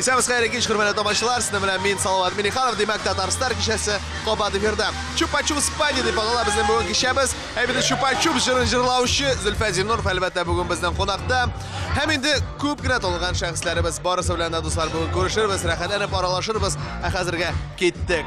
Исәбез хәерле кич, хөрмәтле тамашачылар. Сезнең белән мин Салават Миниханов, димәк, Татарстар кичәсе кабат эфирда. Чупа-чупс пати дип атала безнең бүген кичәбез. Ә бит чупа-чупс җырын җырлаучы Зөлфә Зиннуров әлбәттә бүген безнең кунакта. Һәм инде күп кенә танылган шәхесләребез барысы белән дә дуслар бүген күрешербез, рәхәтләнеп аралашырбыз. Ә хәзергә киттек.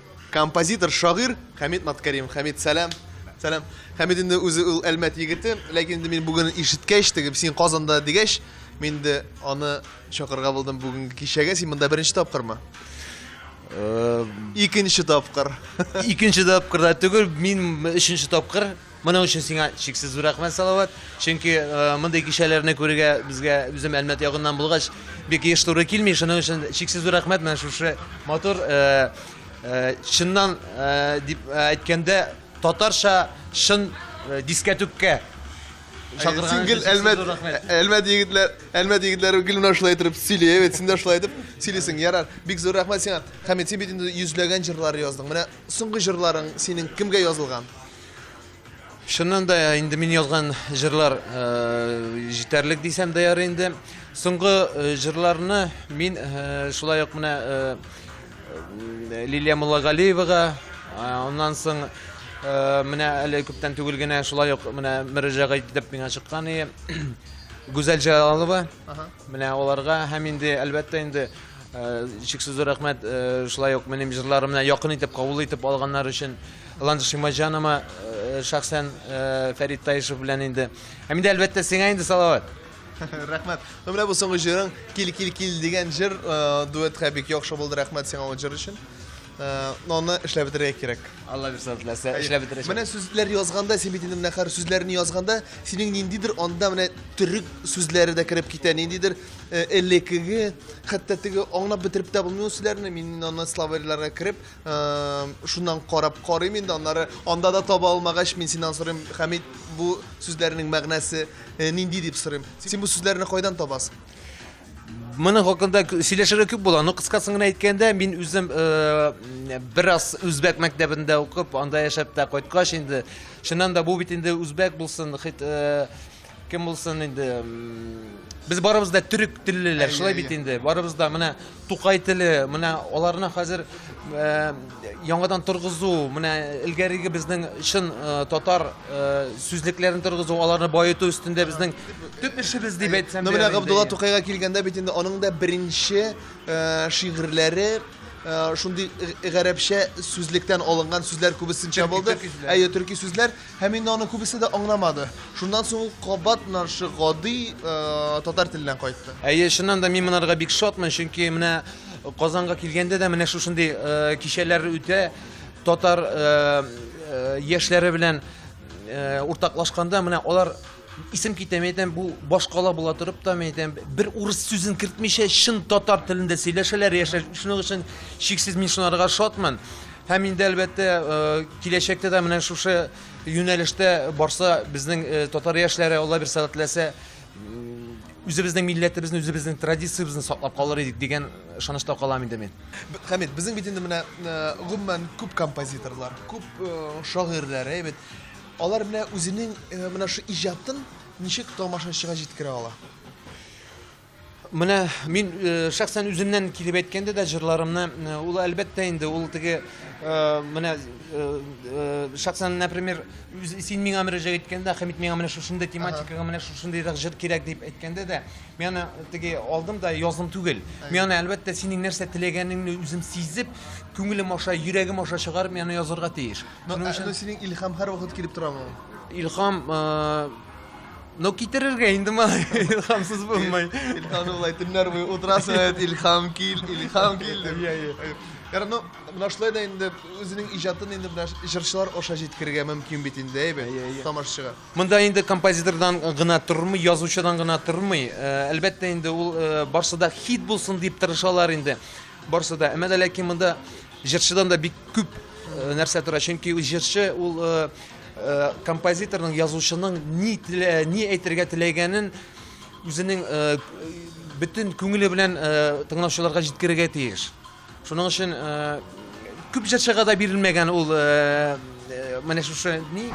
Композитор, шагыйрь Хәмит Маткаримов. Хәмит, сәлам. Сәлам. Хәмит инде үзе ул Әлмәт егете, ләкин инде мин бүген ишеткәч, теге син Казанда дигәч, мин инде аны чакырга булдым бүгенге кичәгә. Син монда беренче тапкырмы? Икенче тапкыр. Икенче тапкыр да түгел, мин өченче тапкыр Моның өчен сиңа чиксез зур рәхмәт, Салават. Чөнки мондый кичәләрне күрергә безгә үзем Әлмәт ягыннан булгач, бик еш туры килми. Шуның өчен чиксез зур рәхмәт менә шушы матур чыннан дип әйткәндә татарча шын дискәтүккә чакырган гел әлмәт әлмәт егетләр әлмәт егетләре гел менә шулай итеп сөйли бит син дә шулай итеп сөйлисең ярар бик зур рәхмәт сиңа хәмит син бит инде йөзләгән җырлар яздың менә соңгы җырларың синең кемгә язылган Чыннан да инде мин язган җырлар җитәрлек дисәм дә ярый инде. Соңгы җырларны мин шулай ук менә Лилия Муллагалиевага, аннан соң менә әле күптән түгел генә шулай ук менә мөрәҗәгать итеп миңа чыккан и Гүзәл Җалалова. Менә аларга һәм инде әлбәттә инде чиксез рәхмәт шулай ук минем җырларымны якын итеп кабул итеп алганнар өчен. Ландыш Имаҗанова шәхсән Фәрит Таишев белән инде. Һәм инде әлбәттә сиңа инде Салават. Рәхмәт. Ну менә бу соңгы җырың Кил кил кил дигән җыр дуэтка бик яхшы булды. Рәхмәт сиңа ул җыр өчен. Но аны эшләп бетерергә кирәк. Алла бирсә теләсә, эшләп бетерәчәк. Менә сүзләр язганда, син бит инде менә хәзер сүзләрне язганда, синең ниндидер анда менә төрек сүзләре дә кереп китә, ниндидер элекеге, хәтта теге аңлап бетереп тә булмый ул сүзләрне, мин аны словарьларга кереп, шуннан карап карыйм инде аннары анда да таба алмагач мин синнән сорыйм хәмит бу сүзләрнең мәгънәсе э, нинди дип сорыйм син бу сүзләрне кайдан табасың моның хакында сөйләшергә күп була но кыскасын гына әйткәндә мин үзем э, бераз үзбәк мәктәбендә укып анда яшәп тә кайткач инде чыннан да бу бит инде үзбәк булсын хит э, Кем булсын инде? Без барыбыз да төрек теллеләр, шулай бит инде. Барыбыз да менә Тукай теле, менә аларны хәзер э, яңадан торгызу, менә элгәреге безнең чын э, татар э, сүзлекләрен торгызу, аларны баету өстендә безнең төп эшебез дип әйтсәм. Ну менә Габдулла Тукайга килгәндә бит инде аның да беренче шигырьләре Э, шундый э, гарәпчә сүзлектән алынган сүзләр күбесенчә булды. Әйе, төрки сүзләр. Һәм инде аны күбесе дә аңламады. Шуннан соң ул кабат менә шушы гади э, татар теленә кайтты. Әйе, чыннан да мин монарга бик шатмын, чөнки менә Казанга килгәндә дә менә шушындый э, кичәләр үтә. Татар э, э, яшьләре белән э, уртаклашканда менә алар Исем китәм, әйтәм, бу башкала була торып та, әйтәм, бер урыс сүзен кертмичә чын татар телендә сөйләшәләр, яшәш. Шуның өчен шиксез мин шунарга шатмын. Һәм инде әлбәттә э, киләчәктә дә менә шушы юнәлештә барса безнең э, татар яшьләре Алла бер сәләтләсә үзебезнең милләтебезне, үзебезнең традициябезне саклап калыр идек дигән ышанычта калам инде мин. Хәмит, безнең бит инде менә э, гомумән күп композиторлар, күп шагыйрьләр, әйбәт Алар менә үзенең менә шул иҗатын ничек тамашачыга җиткерә ала? Менә мин шәхсән үземнән килеп әйткәндә дә җырларымны ул әлбәттә инде ул теге менә шәхсән например син миңа мөрәҗәгать иткәндә Хәмит миңа менә шушындый тематикага менә шушындыйрак җыр кирәк дип әйткәндә дә мин аны теге алдым да яздым түгел мин аны әлбәттә синең нәрсә теләгәнеңне үзем сизеп күңелем аша йөрәгем аша чыгарып мин аны язарга тиеш Но, Шуның ә, өчен- но синең илһам һәрвакыт килеп торамы? Илхам, э, ну китерергә инде малай, илхамсыз булмай. Илһамны былай төннәр буе утырасың, әйт, илһам кил, илһам кил дип. Иә, иә. Яра, ну, менә шулай да инде үзенең иҗатын инде менә җырчылар аша җиткерергә мөмкин бит инде, әйбе, Иә, иә. тамашачыга. Монда инде композитордан гына тормый, язучыдан гына тормый. Э, Әлбәттә инде ул э, барсы да хит булсын дип тырышалар инде. Барсы да. Әмма дә ләкин монда Җырчыдан да бик күп нәрсә тора, чөнки ул җырчы ул композиторның, язучының ни ни әйтергә теләгәнен үзенең бөтен күңеле белән тыңлаучыларга җиткерергә тиеш. Шуның өчен күп җырчыга да бирелмәгән ул менә шушы ни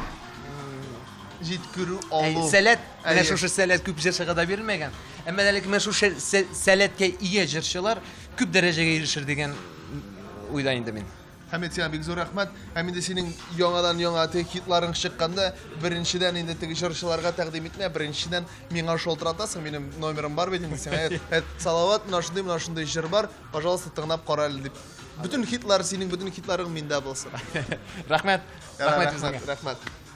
җиткерү алу. Сәләт, менә шушы сәләт күп җырчыга да бирелмәгән. Әмма әлеге менә шушы сәләткә ия җырчылар Күп дәрәҗәгә ирешер дигән уйда инде мин. Хәмит, сиңа бик зур рәхмәт. Һәм инде синең яңадан-яңа теге хитларың чыкканда, беренчедән инде теге җырчыларга тәкъдим итмә, беренчедән миңа шалтыратасың, минем номерым бар бит инде сиңа. Әт, Салават, менә шундый, менә шундый җыр бар, пожалуйста, тыңлап кара әле дип. Бөтен хитлар, синең бөтен хитларың миндә булсын. Рәхмәт. Рәхмәт, рәхмәт.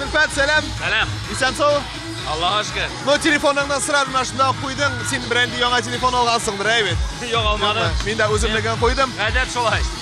Зөлфәт, сәлам. Сәлам. Исән сау. Аллаһ ашкы. Ну, телефоныңнан сразу менә шунда куйдың. Син бренди яңа телефон алгансыңдыр, әйбәт. Юк, алмадым. Мин дә үземнекен куйдым. Гадәт шулай.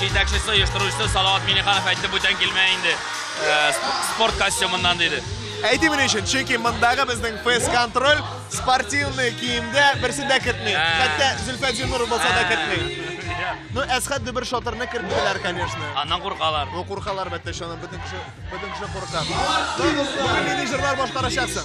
Җитәкчесе, оештыручысы Салават Миңнеханов әйтте, бүтән килмә инде. Спорт костюмыннан диде. Әйтим ни өчен? Чөнки мондагы безнең фейс-контроль спортивный киемдә берсен дә кертми. Хәтта Зөлфәт Зинуров булса да кертми. Ну, Әсхәт Дөбер шатырны керттеләр, конечно. Аннан куркалар. Ну, куркалар бәттә, шуны бөтен кеше, бөтен кеше курка. Менеджерлар башкарачаксың.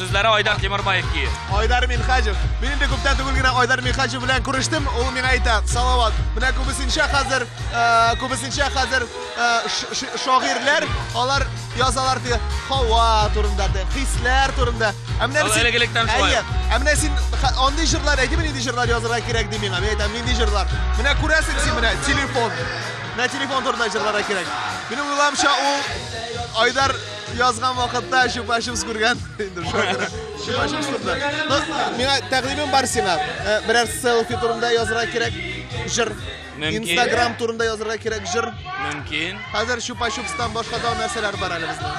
Сүзләре Айдар Тимербаев ки. Айдар Минхаҗев. Мин инде күптән түгел генә Айдар Минхаҗев белән күрештем. Ул миңа әйтә, Салават, менә күбесенчә хәзер, э, күбесенчә хәзер э, ш- ш- шагыйрьләр, алар язалар ди, һава турында ди, хисләр турында. Ә менә Ул син- элек-электән шулай. Әйе. Ә менә син ха- андый җырлар әйтеме, нинди җырлар язарга кирәк ди миңа. Мин әйтәм, нинди җырлар. Менә күрәсең син менә телефон. Менә телефон турында җырларга кирәк. Минем уйламча ул Айдар Язган вакытта чупа-чупс күргән. Инде шуңа күрә чупа-чупс турында. Ну, миңа тәкъдимем бар сиңа. Э, Берәр селфи турында язырга кирәк җыр. Мөмкин. Инстаграм турында язырга кирәк җыр. Мөмкин. Хәзер чупа-чупстан башка да нәрсәләр бар әле безнең.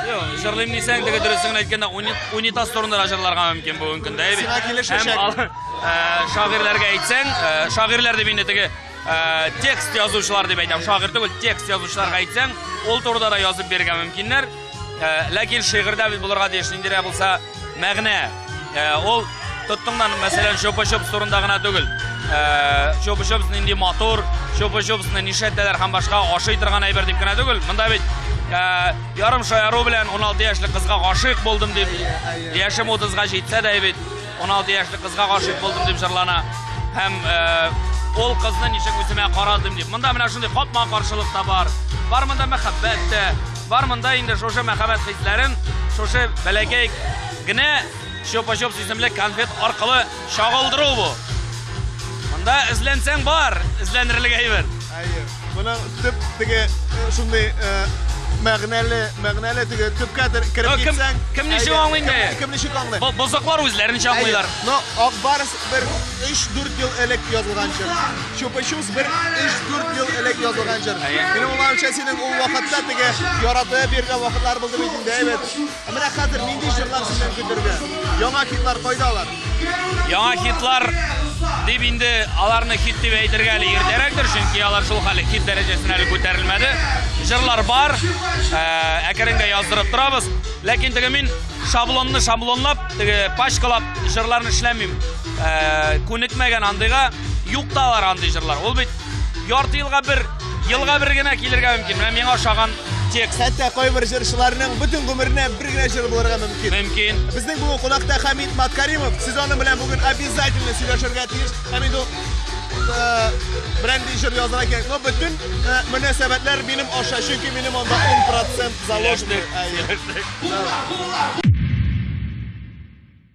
Йо, җырлыйм дисәң, теге дөресен генә әйткәндә, уни- унитаз турында да җырларга мөмкин бүгенге көндә. әйбит. Сиңа килешәчәк. Һәм ал- э, шагыйрьләргә әйтсәң, э, шагыйрьләр дип инде теге Э, текст язучылар дип әйтәм шагыйрь түгел текст язучыларга әйтсәң ул турыда да язып бирергә мөмкиннәр э, ләкин шигырьдә бит булырга тиеш ниндирәк булса мәгънә э, ул тоттыңнан мәсәлән чупа чупс турында гына түгел чупа чупс нинди матур чупа чупсны нишләтәләр һәм башка ашый торган әйбер дип кенә түгел монда бит ярым шаяру белән 16 яшьлек кызга гашыйк булдым дип яшем 30-га җитсә дә бит 16 яшьлек кызга гашыйк булдым дип җырлана һәм ул кызны ничек үземә карадым дип. Монда менә шундый капма каршылык та бар. Бар монда мәхәббәт тә, бар монда инде шушы мәхәббәт хисләрен шушы бәләкәй генә чопа-чоп исемле конфет аркылы чагылдыру бу. Монда эзләнсәң бар, эзләнерлек әйбер. Әйе. Моның төп теге э, шундый э, мәгънәле, мәгънәле теге төпкә тер- кереп Кем- китсәң. кем ничек әйдә, аңлый инде? кем- Кем ничек аңлый? Бо- Бозыклар үзләренчә аңлыйлар. Әйе. Но Акбарс бер 3-4 ел элек язылган җыр. Чупа-чупс бер 3-4 ел элек язылган җыр. Әйе. Минем уйлавымча, синең ул вакытта теге яратып йөргән вакытлар булды бит инде, әйбәт. Ә менә хәзер нинди җырлар сезнең көтергә? Яңа хитлар кайда алар? Яңа хитлар дип инде аларны хит дип әйтергә әле иртәрәктер, чөнки алар шул хәле хит дәрәҗәсенә әле күтәрелмәде. Җырлар бар, ә, әкренге яздырып торабыз. Ләкин теге мин шаблонны шаблонлап, теге пачкалап җырларны эшләмим. Ә, күнекмәгән андыйга, юк та алар андый җырлар. Ул бит ярты елга бер Елга бер генә килергә мөмкин. Менә миңа ошаган текст. Хәтта кайбер җырчыларның бөтен гомеренә бер генә җыр булырга мөмкин. Мөмкин. Безнең бүгін кунакта Хамид Маткаримов. Сез аның белән бүген обязательно сөйләшергә тиеш. Хамид ул э, бренди җыр язарга кирәк. Но бөтен э, мөнәсәбәтләр минем аша, чөнки минем анда 10% заложено. Сөйләштек. Сөйләштек.